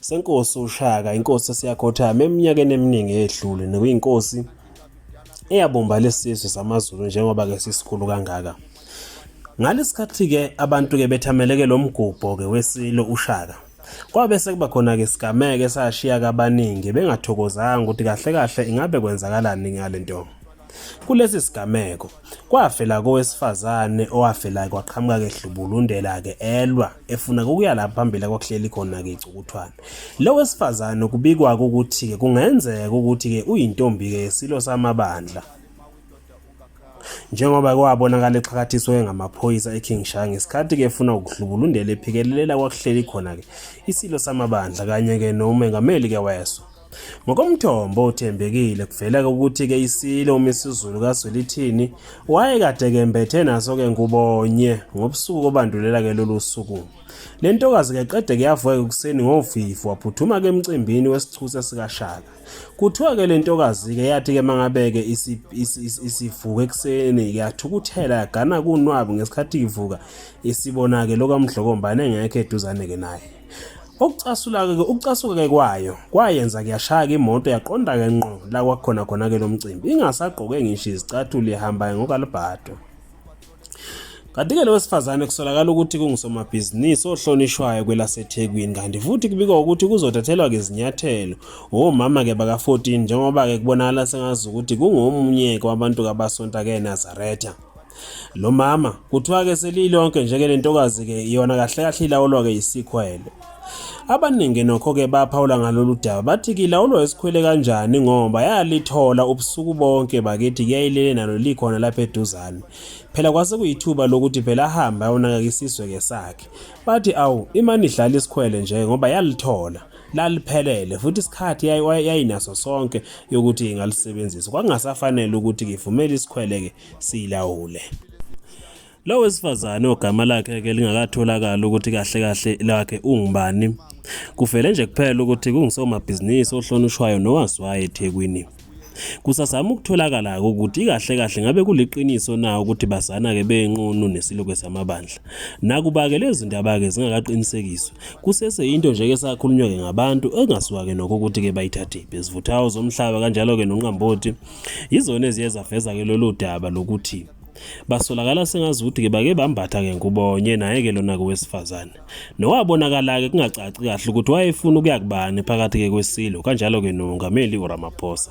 senkosi uShaka inkosi esiyakhothama eminyakeni eminingi edlule nekuyinkosi eyabomba lesizwe samaZulu njengoba ke sisikhulu kangaka ngalesikhathi ke abantu ke bethameleke lomgubho ke wesilo uShaka kwabe sekuba khona ke sigameke sashiya kabaningi bengathokozanga ukuthi kahle kahle ingabe kwenzakalani ngalento Kulesi sigameko kwafela kowesifazane owafela kwaqhamuka ke hlubulundela ke elwa efuna ukuya lapha phambili kwakuhleli khona ke icukuthwana. Lo wesifazane kubikwa ukuthi ke kungenzeka ukuthi ke uyintombi ke silo samabandla. Njengoba kwabonakala exhakathiswe ngamaphoyisa eKing Shah ngesikhathi ke efuna ukuhlubulundela ephikelela kwakuhleli khona ke isilo samabandla kanye ke nomengameli ke weso. Ngokomthombo othembekile kuveleke ukuthi-ke isilo uMisizulu kaZwelithini wayekade kembethe naso-ke ngubonye ngobusuku obandulela-ke lolu suku. Le ntokazi-ke qede kuyavuka ekuseni ngovivu waphuthuma-ke emcimbini wesichuse sikaShaka. Kuthiwa-ke le ntokazi-ke yathi-ke mangabeke isivuka ekuseni yathukuthela yagana kunwabi ngesikhathi ivuka isibona-ke lokamdlokombane engekho eduzane-ke naye. Okucasula-ke ke ukucasuka-ke kwayo kwayenza kuyashaya-ke imoto yaqonda-ke ngqo la kwakukhona khona-ke lo mcimbi ingasagqoke ngisho izicathulo ihambayo ngokalibhado Kanti-ke lo wesifazane kusolakala ukuthi kungusomabhizinisi ohlonishwayo kwelaseThekwini kanti futhi kubikwa ukuthi kuzothathelwa-ke izinyathelo womama-ke baka-14 njengoba-ke kubonakala sengazi ukuthi kungomunye-ke wabantu kabasonta-ke eNazaretha. Lo mama kuthiwa-ke seliyilonke nje-ke le ntokazi-ke yona kahle kahle ilawulwa-ke yisikhwele. Abaningi nokho-ke baphawula ngalolu daba bathi kilawulwa isikhwele kanjani ngoba yalithola ubusuku bonke bakithi kuyayilele nalo likhona lapha eduzane. Phela kwase kuyithuba lokuthi phela ahambe ayonakeka isizwe-ke sakhe. Bathi awu imane idlala isikhwele nje ngoba yalithola laliphelele futhi isikhathi yayinaso sonke yokuthi ingalisebenzisa. Kwakungasafanele ukuthi ngivumele isikhwele-ke siyilawule. Lo wesifazane ogama lakhe ke lingakatholakala ukuthi kahle kahle lakhe ungubani. Kuvele nje kuphela ukuthi kungisomabhizinisi ohlonishwayo nowaziwayo eThekwini. Kusazama ukutholakala ukuthi kahle kahle ngabe kuliqiniso na ukuthi bazana ke benqunu nesiluke samabandla. Nakuba ke lezi ndaba ke zingakaqinisekiswa, kusese into nje ke sakhulunywa ke ngabantu engasiwa ke nokho ukuthi ke bayithathiphi. Izivuthawo zomhlaba kanjalo ke nonqamboti Yizona eziye zaveza-ke lolu daba lokuthi basolakala sengazi ukuthi-ke bake bambatha-ke ngubonye naye-ke lona-ke wesifazane nowabonakala-ke kungacaci kahle ukuthi wayefuna ukuya kubani phakathi-ke kwesilo kanjalo-ke nomongameli uramaphosa